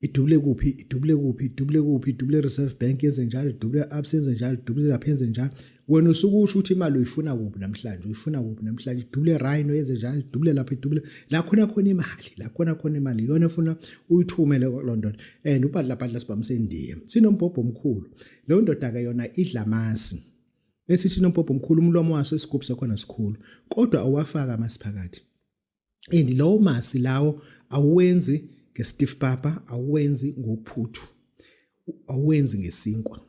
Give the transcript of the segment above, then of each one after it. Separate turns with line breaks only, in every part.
idubule kuphi idubule kuphi idubule kuphi idubule reserve bank yenze njalo idubule abs yenze njalo idubule lapha yenze njalo wena usuke usho ukuthi imali uyifuna kuphi namhlanje uyifuna kuphi namhlanje idubule rhino yenze njalo idubule lapha idubule la khona khona imali la khona khona imali iyona efuna uyithumele lo ndoda and ubhadla bhadla sibamsendiye sinombhobho omkhulu leyo ndoda ke yona idla amasi esithi nombhobho omkhulu umlomo waso isigubhu sakhona sikhulu kodwa owafaka amasiphakathi and lowo masi lawo awenzi ngestiff papa awenzi ngophuthu awenzi ngesinkwa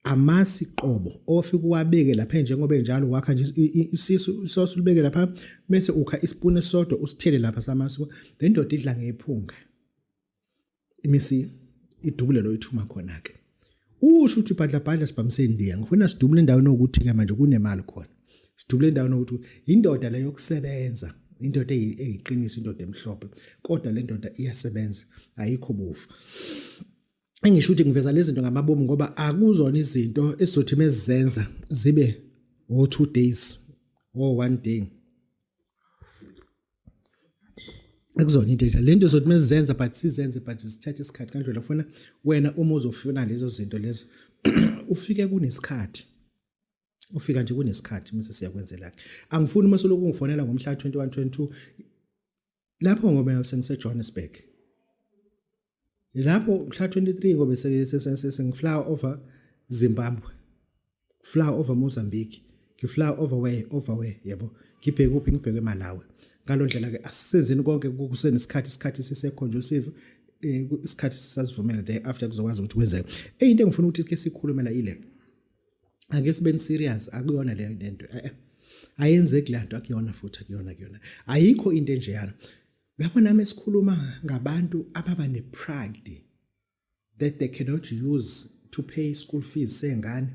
amasi qobo ofika uwabeke lapha njengoba enjalo wakha nje isisu isosi ulibeke lapha bese ukha ispoon esodwa usithele lapha samasi le ndoda idla ngephunga imisi idubule lo ithuma khona ke usho ukuthi bhadlabhadla sibhamise indiya ngifuna sidubule endaweni okuthi ke manje kunemali khona sidubule endaweni okuthi indoda leyo yokusebenza indoda eyiqiniso indoda emhlophe kodwa le ndoda iyasebenza ayikho bovu engisho ukuthi ngiveza lezi zinto ngamabomu ngoba akuzona izinto esizothi mezizenza zibe o two days o one day ekuzona into enjalo lento zothi mesizenza but sizenze but sithathe isikhathi kanjalo ufuna wena uma uzofuna lezo zinto lezo ufike kunesikhathi ufika nje kunesikhathi mase siyakwenzela angifuni uma soloku ngifonela ngomhla 21 22 lapho ngoba sengiseJohannesburg lapho mhla 23 ngobe sengifly over Zimbabwe fly over Mozambique ngifly over way over way yebo ngibheke kuphi ngibheke eMalawi ngaloo ndlela ke asisenzeni konke kusenesikhathi isikhathi siseconducive eh, isikhathi sisazivumela there after kuzokwazi ukuthi kwenzeke eyinto engifuna ukuthi ke sikhulumela ile ake sibe serious akuyona le nto eh, eh. ayenzeki le nto akuyona futhi akuyona akuyona ayikho into enjeyana lapho nami sikhuluma ngabantu ababa nepride that they cannot use to pay school fees sengane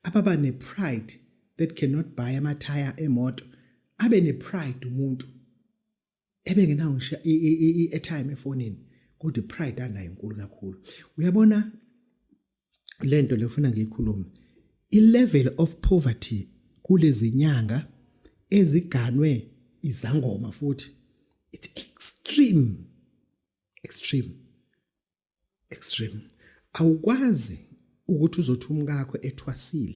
ababa nepride that cannot buy amathaya emoto abe nepride umuntu ebengenawo ngisho i-airtime efonini kodwa ipride anayo inkulu kakhulu uyabona lento lefuna ngiyikhulume i level of poverty kulezinyanga eziganwe izangoma futhi it's extreme extreme extreme awukwazi ukuthi uzothi umkakho ethwasile